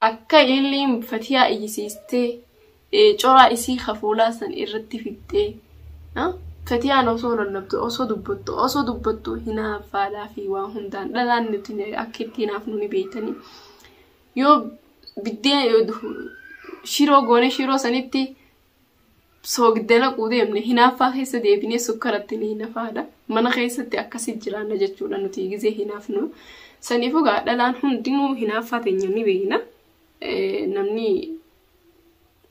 Akka illiin fatiyaa iyyisiistee coraa isii ka fuulaa san irratti fixxee fatiyaan osoo lallabdu osoo dubbattu osoo dubbattu hinaaffaadhaa fi waa hundaan dhalaan nuti akka itti hinaafnu ni beeytanii yoo biddeen shiroo goone shiroo sanitti soogidda naquu deemne hinaaffaa keessa deebinee sukkaratti ni hinafaadha. Mana keessatti akkasii jiraanna jechuudha nuti gizee hinaafnu. Saniif egaa dhalaan hundinuu hinaaffaa teenya ni beekna. Namni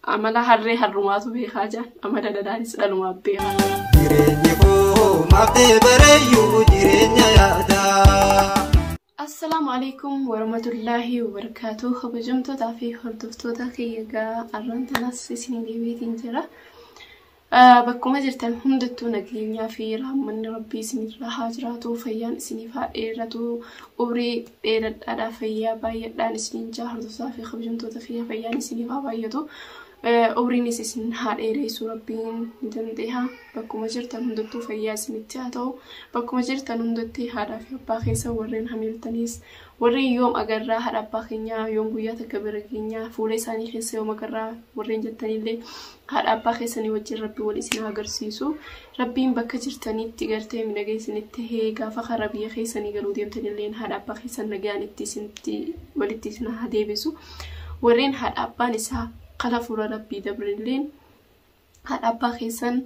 amala harree harrumaatu beekaa jaan amala dhalaanis dhalumaaf beekaa. Jireenyi koo maaf ta'e bareeyyuu jireenya yaadaa. Assalaamu Aleeykum Warahmatullaahi Wabarakaatuh Kabajamtootaa fi hordoftoota kiyya egaa arraan tanaas isinii deebiitiin jira. Ah, Bakkuma jirtan hundattuu nageenyaa fi rahmanni rabbii isinirraa haa jiraatu fayyaan isiniif haa dheeratu umrii dheeradhaadhaa fayyaa baay'adhaan isiniin jaa hordoftoota fi kabajamtoota kiyya fayyaan isiniif haa baay'atu Umriinis isin haa dheereessu rabbiin ni dandeeha. Bakkuma jirtan hundattuu fayyaa isinitti haa ta'u. Bakkuma jirtan hundatti haadhaa fi abbaa keessan warreen hamiiltaniis warreen yoom agarraa haadha abbaa keenyaa yoom guyyaa takka bira keenyaa fuula isaanii keessa yoom agarraa warreen jettanillee haadha abbaa keessanii wajjin rabbi wal isin haa agarsiisu. Rabbiin bakka jirtanitti gartee midhagee isinitti hee gaafa karaa biyya keessanii galuu deemtanillee haadha abbaa keessan nagaan itti isinitti walitti isin haa deebisu. Warreen haadha abbaan isaa kara fuula Rabbii dabrenilleen haadha abbaa keessan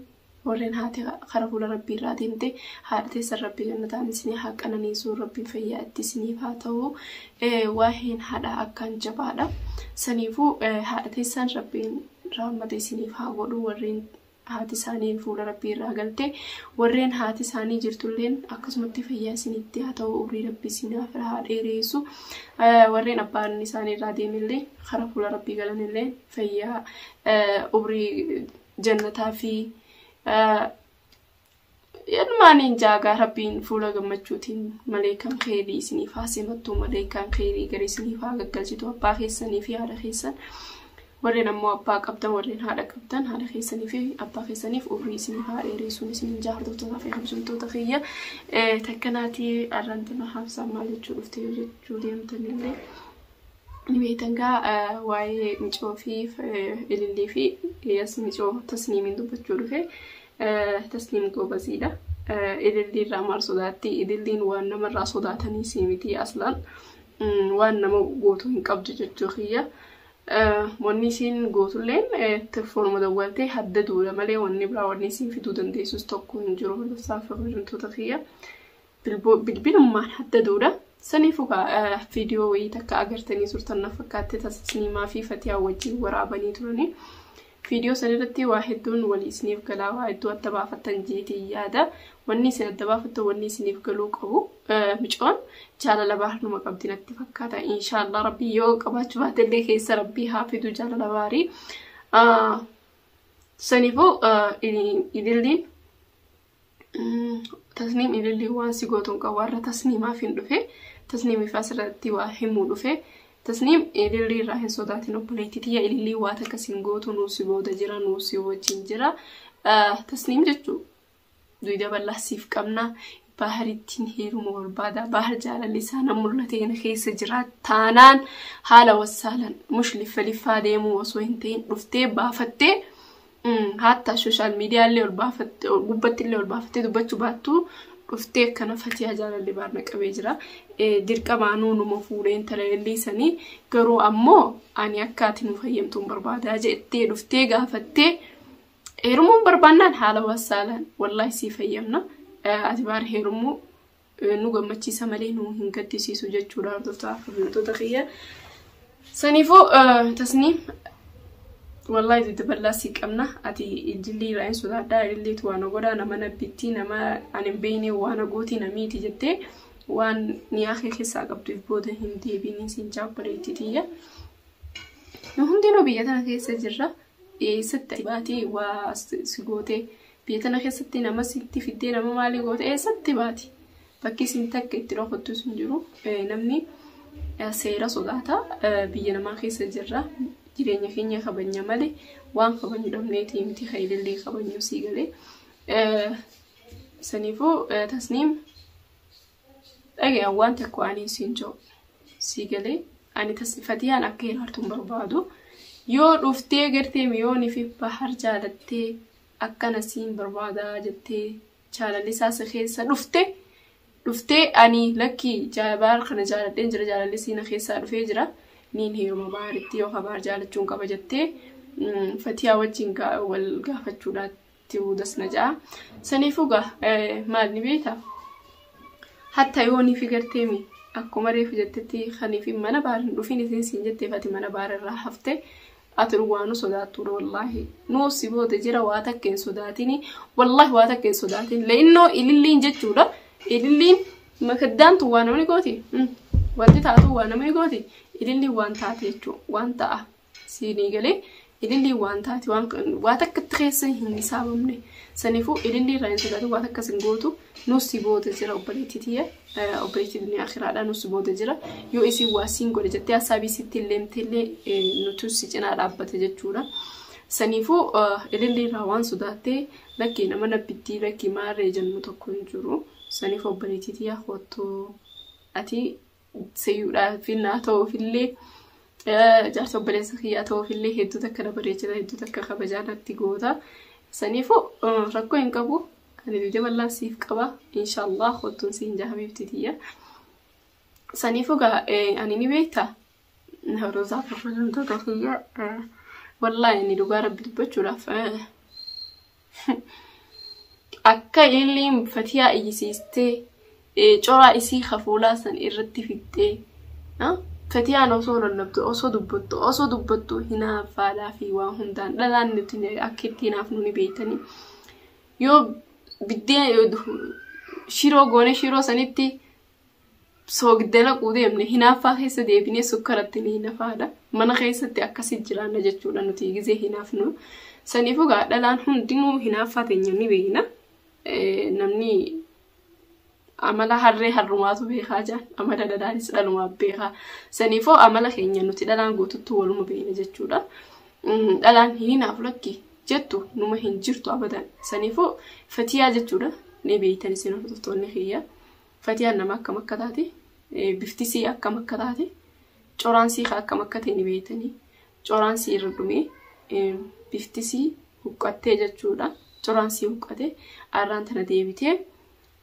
warreen haati kara fuula Rabbii irraa deemte haadha teessan Rabbi jannataan isinii haa qananiisu Rabbiin fayyaa itti isiniif haa ta'u waa'een haadha akkaan jabaadha saniifuu haadha teessan Rabbiin rahmata isiniif haa godhu warreen haati isaanii fuula rabbii irraa galte warreen haati isaanii jirtulleen akkasumatti fayyaa isinitti haa ta'u umrii rabbii isinaaf haa dheereessu warreen abbaan isaanii irraa deemillee karaa fuula rabbii galanillee fayyaa umrii jannataa fi Ilmaaniin jaagaa rabbiin fuula gammachuutiin maleekaan keerii isiniif haa simattu maleekaan keerii gari isiniif haa gaggalchitu abbaa keessanii fi haadha keessan warreen ammoo abbaa qabdan warreen haadha qabdan haadha keessanii fi abbaa keessaniif umrii isiniif haa dheereessuun isiniin jaartotaa fi kabajamtoota kiyya takkanaatii arrantana haabsaa maal jechuu dhufte yoo jechuu deemtanillee ni beektan gaa waa'ee micoo fi ilillii fi yas micoo tasniimiin dubbachuu dhufe Tasliim goobaziidha. Ilillii irraa maal sodaatti? Ililliin waan namarraa sodaatanii sii miti aslaan waan nama gootu hin qabdu jechuu kiyya. Wanni isiin gootulleen telefoonuma dawwaltee hadda duudha malee wanni biraa wanni isiin fiduu dandeessus tokko hin jiru. Lafsaa fi hojjumtoota kiyya. bilbilummaan adda duudha. Saniifuu viidiyoo wayii takka agartanii turtan na fakkaatte tasniimaa fi fatiyaa wajjin waraabanii turanii. Viidiyoo san irratti waa hedduun walii isiniif galaa waa hedduu adda baafattan jeetiin yaada. Wanni isin adda baafattan wanni isiniif galuu qabu. Micoon jaalala baarnuma qabdi natti fakkaata. Inshaallah rabbii yoo qabaachuu baatellee keessa rabbii haa fidu jaalala baarii. Saniifuu idilliin Tasniim ilillii waan si gootu hin qabu warra tasniimaaf hin dhufe tasniimiif asirratti waa himuu dhufe tasniim ilillii irraa hin sodaatin obboleetti tiyya ilillii waa takka si hin gootu nuu si booda jira nuu si wajjin jira tasniim jechuu duyda bal'aa siif qabna baaharittiin heeruma barbaada baahar jaalalli isaa nan mul'ate kana keessa jira taanaan haala wassaalan mush liffa liffaa deemuu osoo hin ta'in dhuftee baafattee Hatta sooshaal miidiyaa illee ol baafatte gubbatti illee ol baafattee dubbachuu baattu dhuftee akkana fatiyaa jaalalli baarna qabee jira. Dirqama anuu numa fuudhee intala lelliisanii garuu ammoo ani akka ati nu fayyamtuun barbaadaa jettee dhuftee gaafattee heerumuun barbaannaan haala wassaalaan wallaahi sii fayyamna. Ati baar heerumuu nu gammachiisa malee nu hin gaddisiisu jechuudha hordoftoota kabajamtoota kiyya. Saniifuu tasniim wallaahi didda bal'aa sii qabna ati jillee irraa hin sodaadhaa jilleetu waan godhaa nama nabbittii nama ani hin beekne waan gootii namiiti jettee waan niyaa kee keessaa qabduuf booda hin deebiin siin jaabbareetti tiyya. Nu hundinuu biyya tana keessa jirra. Eessatti baatee waa si gootee Biyya tana keessatti nama sitti fiddee nama maalii goote eessatti baati. Bakki isin takka itti dhokattus hin jiru. Namni seera sodaata. Biyya namaa keessa jirra. Jireenya keenya kabanya malee waan kabanyu dhabneeti miti kan ilillee kabanyu sii galee. Saniifuu tasniim Dhaga'i waan tokko ani siin jedhu. Sii galee ani tas fatiyaan akka hiraartu hin barbaadu. Yoo dhuftee gartee miyoonii fi bahar jaalattee akkana siin barbaada jettee jaalallisaa si keessa dhufte dhuftee ani lakkii jaa- bahar kana jaaladheen jira jaalallisi na keessaa dhufee jira niin heeruma baharitti yookaan bahar jaalachuun qaba jettee mm, fatiyaa wajjin gaa- wal gaafachuudhaatti. ti'uu das na ja'a. Saniifuu gaa maal ni beekta? Hatta yoo ni figartee mi akkuma reefu jettetti kaniif mana baar hin dhufin isin siin jetteef ati mana baar irraa hafte ati dhugaa nu sodaattuudha wallaahi. Nu si booda jira waa takka hin sodaatini wallaahi waa takka hin sodaatin le'innoo ililliin jechuudha ililliin makaddaantu waa namni gooti wanti taatu waa namni gooti ililliin waan taate jechuudha waan ta'a. siinii galee ilillii waan taate waan waa takka itti keessa hin hisaabamne saniifuu ilillii irraa hin sodaatu waan akkas hin gootu nus si booda jira obboleettii tiyya eh, obboleettii duniyaa akiraadha nus si booda jira yoo isin waa siin godhe jettee hasaabii sitti hin leemte illee eh, nutu si cinaa dhaabbata jechuudha. Saniifuu eh, ilillii irraa waan sodaattee lakkii nama nabbittii lakkii maarree jennu tokko hin jiru saniif obboleettii tiyya kottuu ati seyyuudhaaf naa ta'uufillee jaarsa obboleessa kiyyaa ta'uufillee hedduu takka na bareechita hedduu takka kabajaa natti goota. Saniifuu rakkoo hin qabu ani dide bal'aan siif qaba inshaallah kottuun siin jaha biifti tiyya. Saniifuu gaa ani ni beekta rozaa kabajamtoota kiyya wallaahi inni dhugaa rabbi dubbachuudhaaf Akka illiin fatiyaa iyyisiistee ee, coraa isii kafuulaa san irratti fixxee ah, fatiyaan osoo lallabdu osoo dubbattu osoo dubbattu hinaaffaadhaa fi waan hundaan dhalaan nuti ni- akka itti hinaafnu ni beeytanii yoo biddeen shiroo goone shiroo sanitti soogidda naquu deemne hinaaffaa keessa deebinee sukkaratti ni hinafaadha. Mana keessatti akkasii jiraanna jechuudha nuti gizee hinaafnu. Saniif egaa dhalaan hundinuu hinaaffaa teenya ni beekna. Namni amala harree harrumaatu beekaa jaan amala dhalaanis dhalumaaf beekaa. Saniifoo amala keenya nuti dhalaan guututtuu waluma beekna jechuudha. Dhalaan hin hinaafu lakki jettu numa hin jirtu abadan. Saniifoo fatiyaa jechuudha ni beektan isin hordoftoonni kiyya. Fatiyaan nama akkam akka taate, bifti sii akkam akka taate, coraan sii ka akkam akka ta'e ni beeytanii. Coraan sii irra dhumee bifti sii huqqattee jechuudha. Coraan sii huqqate arraan tana deebitee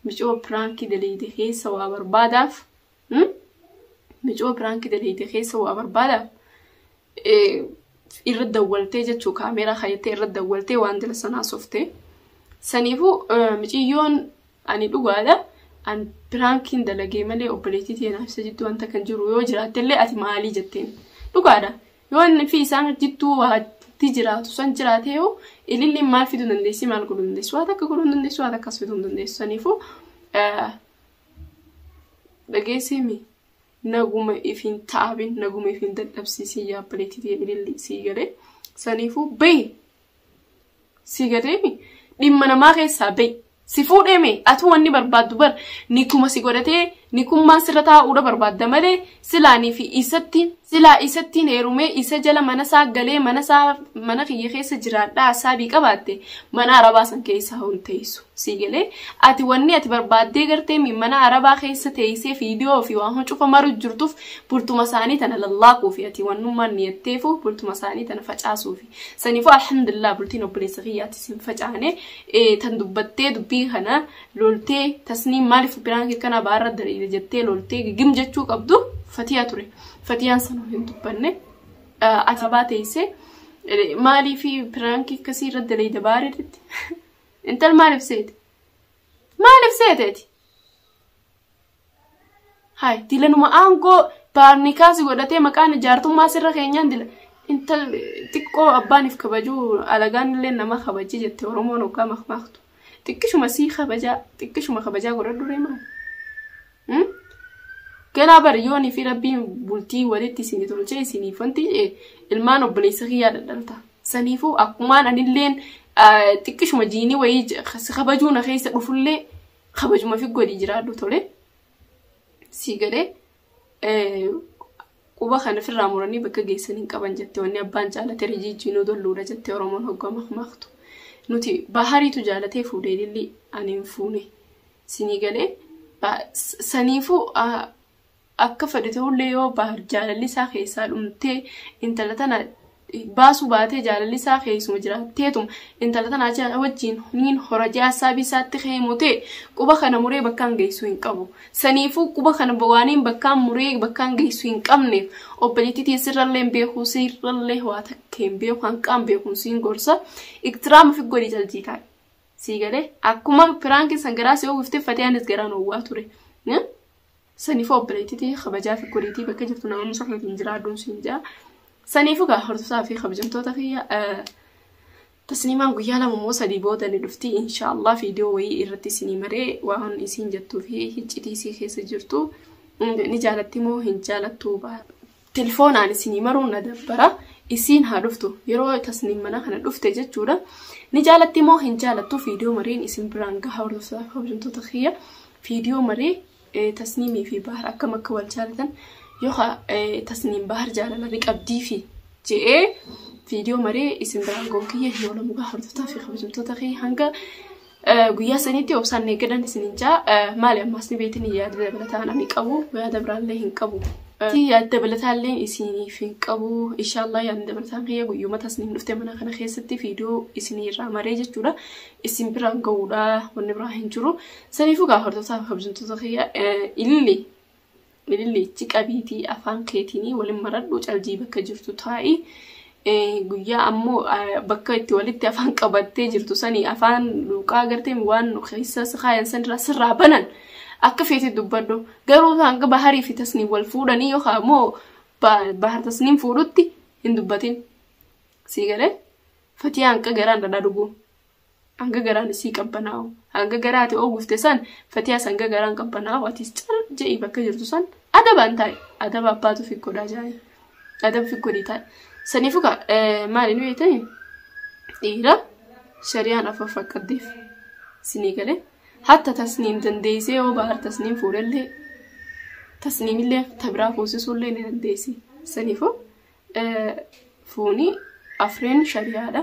micoo piraankii daleeyde keessa waa barbaadaaf. Micoo piraankii daleeyde keessa waa barbaadaaf. irra dawwaltee jechuu kaameeraa kaayattee irra dawwaltee waan dila sanaa softee. Saniifuu miciyyoon ani dhugaadha. An piraankiin dalagee malee obboleettii teenaa ibsa jidduu wanta kan jiru yoo jiraattellee ati maalii jetteen. Dhugaadha. Yoo inni fi isaan jidduu waanti jiraatu san jiraatee yoo ililliin maal fiduu dandeessi maal godhuu dandeessi waan akka godhuu dandeessi waan akkas fiduu dandeessi saniifuu dhageesseemi. Naguma if hin taabin naguma if hin dadhabsiisin yaa obboleettii tiyya ililli sii galee saniifuu bayi sii galeemi dhimma namaa keessaa bayi si fuudheeme atuu wanni barbaaddu bar nikuma si godhatee nikummaan sirra taa'uudha barbaadda malee silaanii fi isatti silaa isattiin heerumee isa jala mana isaa galee mana isaa mana kiyya keessa jiraadhaa saabii qabaatte mana arabaa san keessa hin teessu. sii galee ati wanni ati barbaaddee gartee mi mana arabaa keessa teeysee fiidiyoo fi waan cufa maru jirtuuf bultuma isaanii tana lallaaquufi ati wannummaan niyatteefu bultuma isaanii tana facaasuufi saniifuu alhamdulillah bultiin obboleessa kiyyaatti sin facaane tan dubbattee dubbii kana loltee tasniin maaliif biraan kanaa baarra dariire jettee loltee gigim jechuu qabdu fatiyaa ture fatiyaan sanuu hin dubbanne ati baateeysee maaliif biraan akkasii irra daleeyda baaree Intal maaliif seete? Maaliif seete ati? Haay dilanuma aangoo baarnii kaasi godhatee maqaan ijaartummaa sirra keenyaan dila. Intal xiqqoo abbaaniif kabajuu alagaan illee nama kabajii jette Oromoon hoggaa makmaaktu. Xiqqishuma sii kabajaa xiqqishuma kabajaa godhadhu reemaa. Ganaa bari yoonii fi rabbiin bultii walitti isin tolchee isiniif wanti ilmaan obboleessa kiyyaa dhadhalta. Saniifuu akkumaan anilleen xiqqishuma jiinii wayii si kabajuu na keessa dhufullee kabajuma fi godhii jiraadhu tole. Sii galee Quba kana firraa muranii bakka geessan hin qaban jette wanni abbaan jaalate rijiijjii nu dolluudha jette Oromoon hogga makmaaktu. Nuti bahariitu jaalatee fuudhe ilillii ani hin fuune. Sinii galee saniifuu akka fedhe ta'ullee yoo bahar jaalalli isaa keessaa dhumtee intala tana baasuu baatee jaalalli isaa keessuma jiraatteetuma intala tana achi wajjin niin hora jee hassaabii isaatti ka'ee motee quba kana muree bakkaan geessuu hin qabu. Saniifuu quba kana waaniin bakkaan muree bakkaan geessuu hin qabneef obboleettii tiyya sirrallee hin beeku sirrallee waa takka hin beeku hanqaan beekuun siin gorsa iktiraama fi godhi jaljii taa'e. Sii galee akkuma piraankiin san garaa si oguftee fatiyaanis garaan owwaa ture. Sanifu obboleetti tiyya kabajaa fi koriitii bakka jirtu nama musafeetiin jiraadhuun siin jaa. Sanifu gaa hordosaa fi kabajamtoota kiyya eh, tasliimaan guyyaa lama moo sadii booda ni dhufti inshaallah viidiyoo wayii irratti isinii maree waan isiin jettuu fi hiccitii isii keessa jirtu mm, ni jaalatti moo hin jaalattuu ba- Tilfoonaan isinii maruun na dabbara. Isiin haa dhuftu. Yeroo tasniim mana kana dhufte jechuudha. Ni jaalatti moo hin jaalattu fiidiyoo mariin isin biraan gaha hordoftoota kabajamtoota kiyya. Fiidiyoo marii eh, tasniimii fi bahar akkam akka wal jaalatan yookaan eh, tasniim bahar jaalala ni qabdii fi je'ee fiidiyoo marii isin biraan goon kiyya hin oolamu gaha hordoftoota fi kabajamtoota kiyya hanga Guyyaa sanitti obsaan eegadan isin hin jaa maali ammaas ni beetin yaada dabalataan ani qabu yaada biraallee hin qabu. Yaada dabalataallee isiniif hin qabu inshaallah yaadni dabalataan kiyya guyyuma tasniin dhufte mana kana keessatti viidiyoo isinii irraa maree jechuudha isin biraan ga'uudha wanni biraa hin jiru saniifuu gaa hordoftoota kabajamtoota kiyya ilillee Bililliichi qabiitii afaan keetiinii walin maradhu caljii bakka jirtu taa'i. Guyyaa ammoo bakka itti walitti afaan qabattee jirtu sanii afaan luuqaa agartee waan keessa sakaayan sanirraa sirraa banan akka feete dubbadhu. Garuu hanga baharii fi tasniin wal fuudhanii yookaan ammoo bahar tasniin fuudhutti hin dubbatin. Sii galee fatiyaan akka garaan dhadhaa dhuguu. Hanga garaan isii qabbanaa'u. Hanga garaa ati oogufte san fatiyaas hanga garaan qabbanaa'u atis cal je'i bakka jirtu san adabaan taa'i. Adaba abbaatu fi godhaa jaa'e. Adaba fi godhii taa'i. Saniifu ka maali nu jettani dhiira shari'aan afur fakkaddeef sinii galee hatta tasniim dandeessee yoo bahar tasniim fuudhellee tasniimillee tabiraa fuusisuullee ni dandeessi. Saniifu fuuni afreen shari'aadha.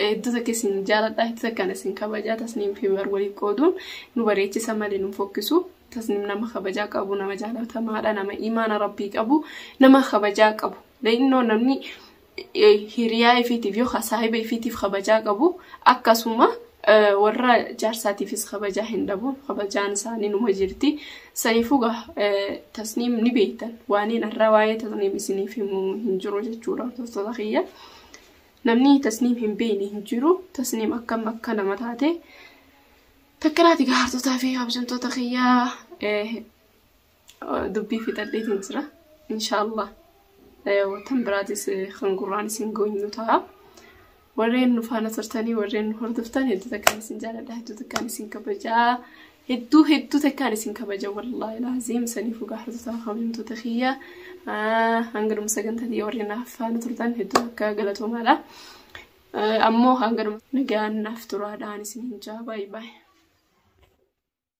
Hedduu takka isin jaaladha hedduu takkaan isin kabajaa tasniim fi umar waliin qooduun nu bareechisa malee nu fokkisu tasniim nama kabajaa qabu nama jaalatamaadha nama imaana rabbii qabu nama kabajaa qabu leeyinnoo namni hiriyaa ifiitiif yoo saahiba ifiitiif kabajaa qabu akkasuma warra jaarsaatiifis kabajaa hin dhabu kabajaan isaanii numa jirti saniifuu gaa tasniim ni beektan waaniin irraa waa'ee tasniim isiniif himu hin jiru jechuudha hordoftoota kiyya. Namni tasniim hin beeyne hin jiru. Tasniim akkam akka nama taate. Takkanaati gahartootaa fi kabajamtoota kiyyaa dubbii fixadheetiin jira. Inshaallah watan biraatis kan gurraan isin goonyu ta'a. Warreen nu faana turtanii warreen nu hordoftan hedduu takkaan isin jaaladha hedduu takkaan isin kabajaa. Hedduu hedduu takkaan isin kabaja wallaahi laaziim saniif gaafatotaa kabajamtoota kiyya hanga dhuma sagantaa tiyya warri naaf faana turtan hedduu akka galatoomaadha. Ammoo hanga dhuma nagaan naaf turaadhaan isin hin jaa baay'ee baay'ee.